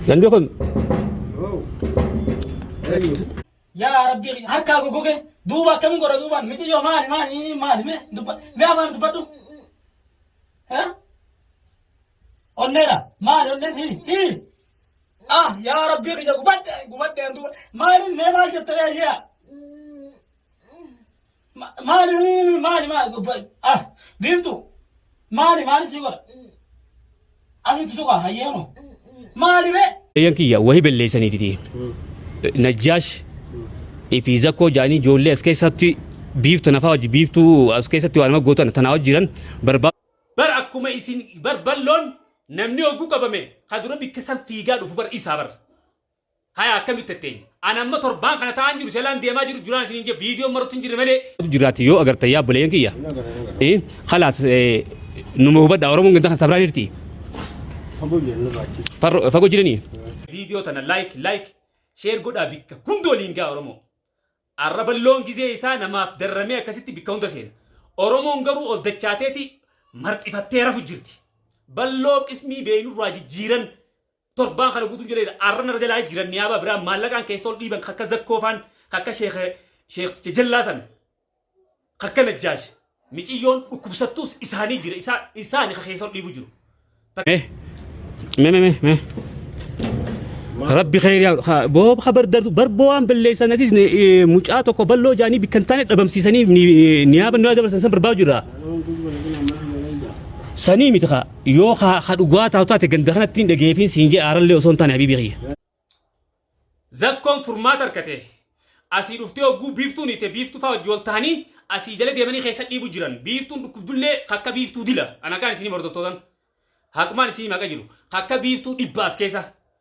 Namni kun yaa rabbi harkaa gogoge duuba akkamiin godha duubaan miti yoo maali maali maali mee dubba mee afaan dubbadhu Eh? onneedha maali onneen hiri hiri ah yaa rabbi kiyya gubadhe gubadhe duuba maali mee maal jette yaa yaa Ma- Maali maali maali maali gubba- ah biiftu maali maali si godha asitti tuqa hayyeenu maali ree. Eeyyan kiyya wahi belleessanii didee. Najjaash fi zakkoo jaanii ijoollee as keessatti biiftu nafaa wajji biiftuu as keessatti waan nama gootan tanaa wajji jiran barbaa. Bar akkuma isin bar balloon namni oggu qabame ka dura bikka san fiigaa dhufu bar isaa bar. Hayaa akkami itti atteenya. An amma torbaan kana ta'aan jiru selaan deemaa jiru duraan isiniin jee viidiyoon marutti hin jirre malee. jiraate yoo agartan yaa buleen kiyya eh, khalaas eh, numa hubadha oromoon ganda kan tabraan jirti Farro- fagoo jiranii Viidiyoo tana like like share godhaa bikka hunda waliin gaa Oromoo. Arraballoon gizee isaa namaaf darramee akkasitti bikka hunda seena. Oromoon garuu ol dachaateeti marxifattee rafu jirti. Balloo qismii beeynurraa jijjiiran Torbaan kana guutuun jedheera. Arra narra jalaa jiran niyaabaa biraa maallaqaan keessa ol dhiiban kakka zakkoofaan kakka sheekh jajallaa san kakka najjaash miciyyoon dhukkubsattuus isaanii jira isaa isaani ka keessa ol dhiibu jiru. Mee mee mee mee rabbi khayri yaa ha boo khabar dar bar boo waan balleessan atis ni- eh, mucaa tokko balloo jaanii bikkan taane dhabamsiisanii ni- niyaaba nu dabarsan san barbaa jira sanii miti kaa Yoo ka ka dhugaa taatu taate ganda kanatti hin dhageefiin siin jee aarallee osoo hin taane habiibii kiyya. Zakkoon furmaata argate. Asii dhuftee hogguu biiftuun hiite biiftuu faa wajji wal tahanii asii jala deemanii keessa dhiibu jiran. Biiftuun dhukkubdullee kakka biiftuu dila. Ana kaan isinii hordoftootan. Haqumaan isinii maqa jiru. Kakka biiftuu dhibba as keessa.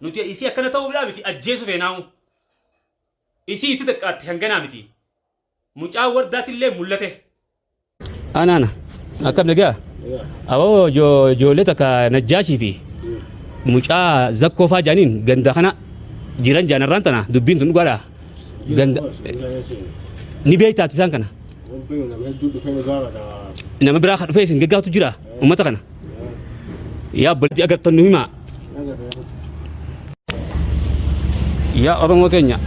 Nuti isii akkana ta'uudhaa miti ajjeesu feenaa'u. Isii itti xiqqaatte hanganaa miti. Mucaa wardaatillee mul'ate. Ana ana akkam nagaa awoo ijoollee takka najjaashii fi mucaa zakkoo faa jaaniin ganda kana jiran jaanarraan tana dubbiin tun dhugaadha. Ganda ni beektaa isaan kana. Nama biraa kan dhufee isin gaggaatu jira uummata kana. Yaa obboleetti agartan nu himaa. Yaa Oromoo keenya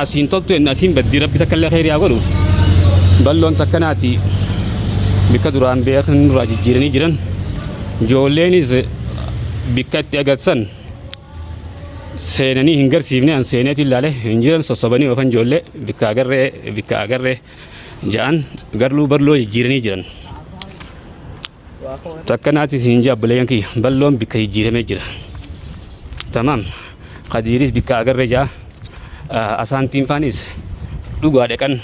asiin toltu inni asiin baddii rabbi takka illee kheyri haa godhu. Balloon takkanaati bikka duraan beekan nurraa jijjiiranii jiran. Ijoolleenis bikka itti agartan seenanii hin garsiifne an seeneetiin laale hin jiran sossobanii oofan ijoollee bikka agarree bikka agarree ja'an garluu barloo jijjiiranii jiran. Takka naatis hin jaa buleeyyan kiyya balloon bikka jijjiiramee jira. Tamaam kadiiris bikka agarree ja'a asaantiin faanis dhugaa dhaqan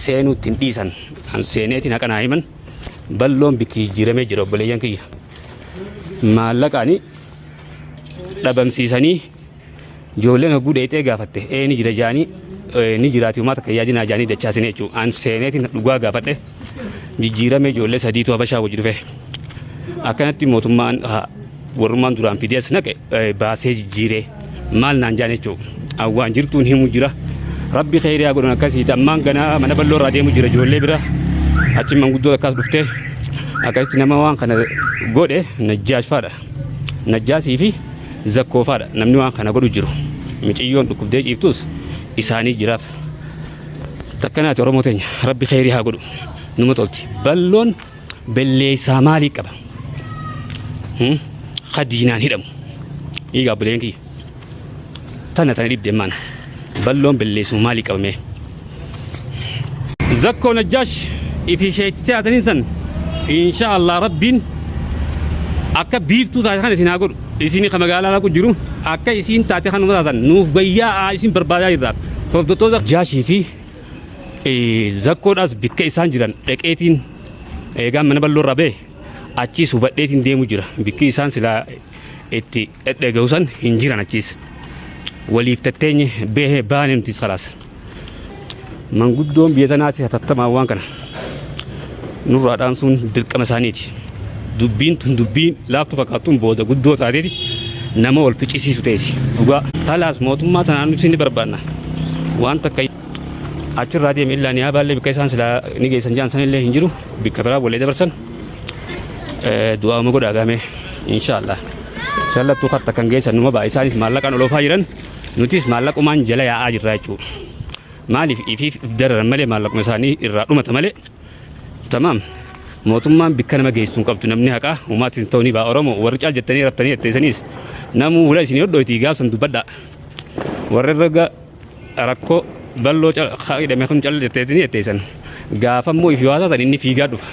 seenuutti hin dhiisan an seeneetiin haqa naa himan balloon bikki jijjiiramee jira obboleeyyan kiyya. Maallaqaanii dhabamsiisanii ijoolleen hogguu dheexee gaafatte ee ni jira jaanii ni jiraati uumaa takka yaadinaa jaanii dachaasine jechuun aan seeneetiin dhugaa gaafadhe jijjiirame ijoollee sadiitu habashaa wajji dhufe akkanatti mootummaan warrummaan duraan fidees naqe baasee jijjiiree maal naan jaan jechuun awwaan jirtuun himu jira rabbi keeriyaa godhan akkasii ammaan ganaa mana bal'oo irraa deemu jira ijoollee bira achi manguddoo akkas dhuftee akkasitti nama waan kana godhe najjaashfaadha. Najjaasii fi Zakkoo faadha namni waan kana godhu jiru. Miciyyoon dhukkubdee ciiftus isaanii jiraaf. Takkanaati Oromoo teenya rabbi kheyrii haa godhu. Numa tolti. Balloon belleessaa maalii qaba? Hmm? Khadiinaan hidhamu. Dhiigaa buleen kiyya. Tana tana dhibde mana. Balloon belleessu maalii qabame? Zakkoo Najjaash ifi sheektee ataniin san insha Allah rabbiin akka biiftuu taate kan isin haa godhu. Isin ka magaalaa laqu jiru akka isin taate kan uumata taatan nuuf bayyaa isin barbaadaa jirra. Hordoftoota Jaashii fi zakkoodhaas bikka isaan jiran dhaqeetiin eegaan mana bal'oo irraa ba'e achiis hubadheetiin deemu jira. Bikki isaan silaa itti dhedheega'u san hin jiran achiis waliif tatteenye beehe baane nutis kalaas manguddoon biyya tanaatis hatattamaan waan kana nurraa dhaamsuun dirqama isaaniiti dubbiin tun dubbii laaftu fakkaattuun booda guddoo taateeti nama wal ficcisiisu teessi dhugaa kalaas mootummaa tanaan nuti ni barbaanna waan takka achirraa deeme illaan yaa baallee bikka isaan silaa ni geessan jaan sanillee hin jiru bikka biraa wallee dabarsan du'aa uma godhaa gaamee inshaallah sallattuu katta kan geessan numa ba'a isaanis maallaqaan oloofaa jiran nutis maallaqumaan jala yaa'aa jirra jechuudha maaliif ifiif dararan malee maallaquma isaanii irraa dhumata malee tamaam mootummaan bikka nama geessu hin qabdu namni haqaa umaatis ta'uu ni ba'a oromoo warri caal jettanii raftanii jetteessaniis namuu wula isin hodhootii gaafsan dubbadhaa warri raga rakkoo balloo hidhame kun calli jetteetini jetteessan gaafa immoo if yoo taatan inni fiigaa dhufa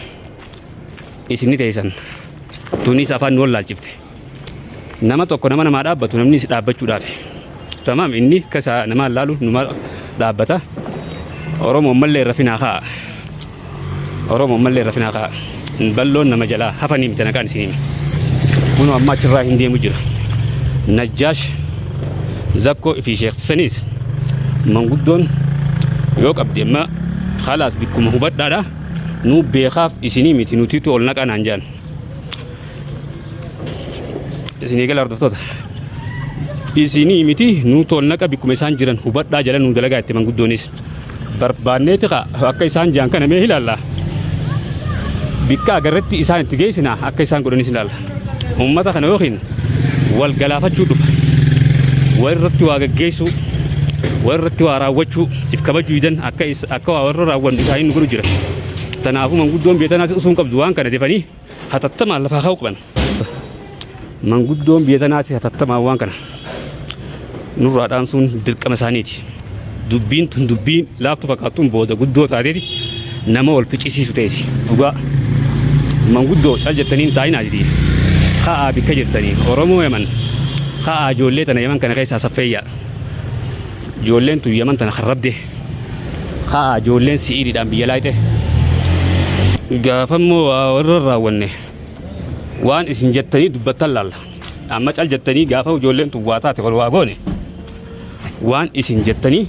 isinni teessan tunis afaan nu wallaalchifte nama tokko nama namaa dhaabbatu namni si dhaabbachuudhaaf tamaam inni kasaa namaa laalu numaa dhaabbata oromoo mallee rafinaa kaa Oromo ammallee rafinaa kaa balloon nama jalaa hafanii miti nagaan isin hime. Kuno amma achirraa hin deemu jira. Najjaash zakkoo fi sheeksaniis manguddoon yoo qabde amma halaas bikkuma hubadhaadha. Nuu beekaaf isinii miti nutiitu ol naqaa naan jaan. Isinii gala hordoftoota. Isinii miti nuu tol naqa bikkuma isaan jiran hubadhaa jala nuu dalagaa itti manguddoonis. barbaanneeti ka akka isaan jaan kana mee ilaalla bikka agarretti isaan itti geessina akka isaan godhanis ilaalla uummata kana yookiin wal galaafachuu dhufa wal irratti waa gaggeessuu wal irratti waa raawwachuu if kabajuu didan akka is- akka waa warra raawwannu isaanii nu godhu jira kanaafuu manguddoon biyya tanaas usuun qabdu waan kana defanii hatattamaan lafaa ka'uu qaban. Manguddoon biyya tanaatis hatattamaan waan kana nurraa dhaamsuun dirqama isaaniiti. Dubbiin tun dubbii laaftu fakkaattuun booda guddoo taateeti nama wal ficcisiisu teessi. Dhugaa manguddoo cal jettanii hin taa'inaa jedhii. Ka'aa bikka jirtanii Oromoo Yaman ka'aa ijoollee tana Yaman kana keessaa saffeeyyaa. Ijoolleen tun Yaman tana kan rabdee. Haa ijoolleen si'iididhaan biyya laayxe. Gaafa immoo waa warra raawwanne waan isin jettanii dubbattan laalla. Amma cal jettanii gaafa ijoolleen tun waa taate wal waa goone waan isin jettanii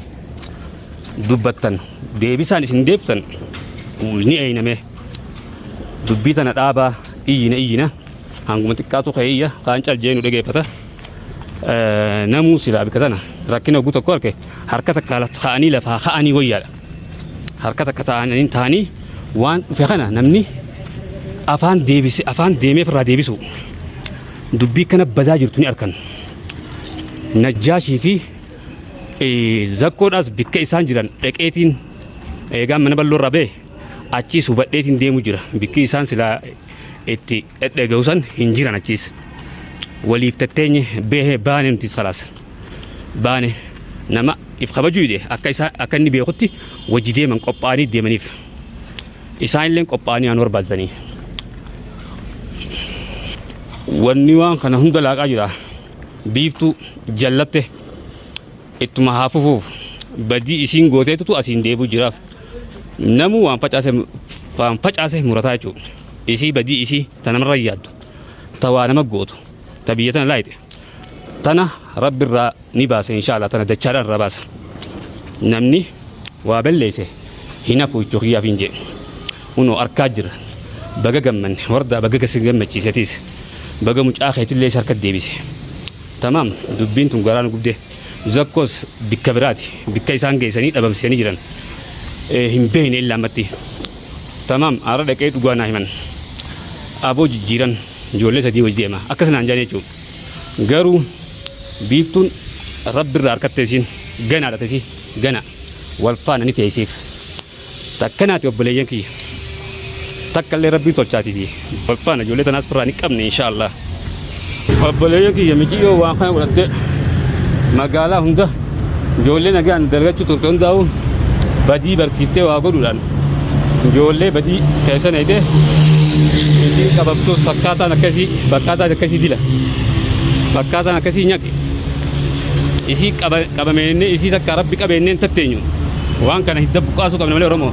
dubbattan deebisaan isin deebiftan ni eeyname. Dubbii tana dhaabaa iyyina iyyina hanguma xiqqaatu ka'e iyya kaan cal jee nu dhageeffata. namuu silaa bika tana rakkina oguu tokko arke harka takka ta'anii lafaa ka'anii wayyaadha. Harka takka ta'anii ta'anii waan dhufe kana namni afaan deebise afaan deemee ofirraa deebisu dubbii kana badaa jirtu ni arkan. Najjaashii fi zakkoodhaas bikka isaan jiran dhaqeetiin eegaan mana bal'oo irraa ba'e Achiis hubadheetiin deemu jira. Bikki isaan silaa itti dhedheega'u san hin jiran achiis. Waliif tatteenye beehe baane nutis kalaas. Baane nama if kabajuu dide akka isaa akka inni beekutti wajji deeman qophaa'anii deemaniif. Isaan illee qophaa'anii aan barbaadanii. Wanni waan kana hunda laaqaa jira. Biiftuu jallatte. Ittuma haa fufuuf badii isiin gooteetutu asiin deebi'u jiraaf. Namuu waan facaase waan facaase murataa jechuudha. Isii badii isii ta namarra yaaddu ta waa nama gootu ta biyya tana laayite tana rabbi irraa ni baasa inshaallah tana dachaadhaan irraa baasa. Namni waa balleesse hin hafu jechuu kiyyaaf hin jee. Kunoo arkaa jirra. Baga gammanne wardaa baga gasi gammachiise atiis. Baga mucaa keetillee isa harkatti deebise. Tamaam dubbiin tun garaa nu gubdee. Zakkoos bikka biraati bikka isaan geessanii dhabamsiisanii jiran hin beeyne illa ammatti. Tamaam aara dhaqee dhugaa naa himan. Aboo jijjiiran ijoollee sadii wajji deema akkas naan jedhan jechuu. Garuu biiftuun Rabbi irraa harkatte isiin ganaadha tesi gana wal faana ni teessiif. Takka naati obboleeyyan kiyya. Takka illee rabbii tolchaatiti. Wal faana ijoollee tanaas firraa ni qabne inshaallah. Obboleeyyan kiyya miciyyoo waan kana godhattee magaalaa hunda ijoollee nagaan dalagachuu turte hundaa'u badii barsiiftee waa godhuudhaan ijoollee badii keessa neeyte isiin qabamtuus fakkaataan akkasii fakkaataan akkasii dila fakkaataan akkasii nyaqe isii qabameenyee isii takka rabbi qabeenneen tatteenyu. Waan kana hidda buqqaasuu qabna malee Oromoo.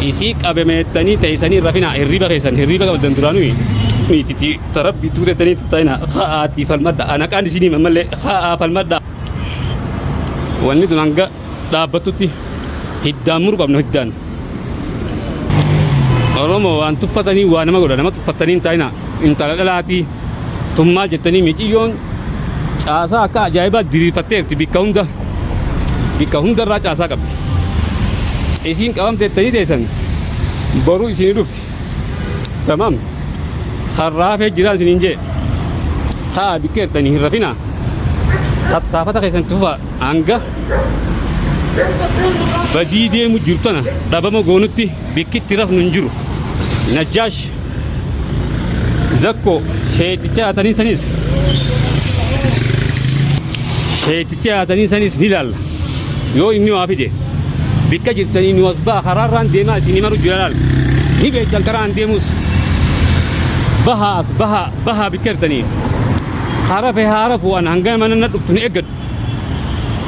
Isii qabemeettanii teessanii hin rafinaa hirriiba keessan hirriiba qabdan duraanuu miititi tarabbii tuutettanii tattaa'ina ha'aatii falmadha anaqaan isinii mammallee ha'aa falmadha. Wanni tun hanga dhaabbattutti hiddaan muru qabna hiddaan. Oromoo waan tuffatanii waa nama godha nama tuffattanii hin taa'ina intala dhalaatii tun maal jettanii miciyyoon caasaa akka ajaa'ibaa diriirfatteerti bikka hunda bikka hundarraa caasaa qabdi isiin qabamte ittanii teessan boruu isinii dhufti tamam harraa hafee jiraan isiniin jee haa bikkeertanii hin rafinaa tattaafata keessan tufaa hanga badii deemu jirtana dhabama goonutti bikkitti rafnu hin jiru najjaash Zakko sheeticha haatanii sanis sheeticha haatanii sanis ni laalla. Yoo inni waa fide bikka jirtanii nu as ba'a karaarraan deemaa isinii maru jira laal. Ni beektan karaan deemus bahaa as bahaa bahaa bikka jirtanii. Harafe haarafu an hanga mana na dhuftu na eeggadhu.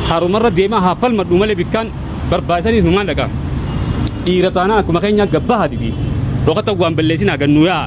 Harumarra deemaa haa falmadhu malee bikkaan barbaachisanis numaan dhaqa dhiira taanaan akkuma keenya gabbahaatiti dhokata waan balleessinaa gannuu yaa'a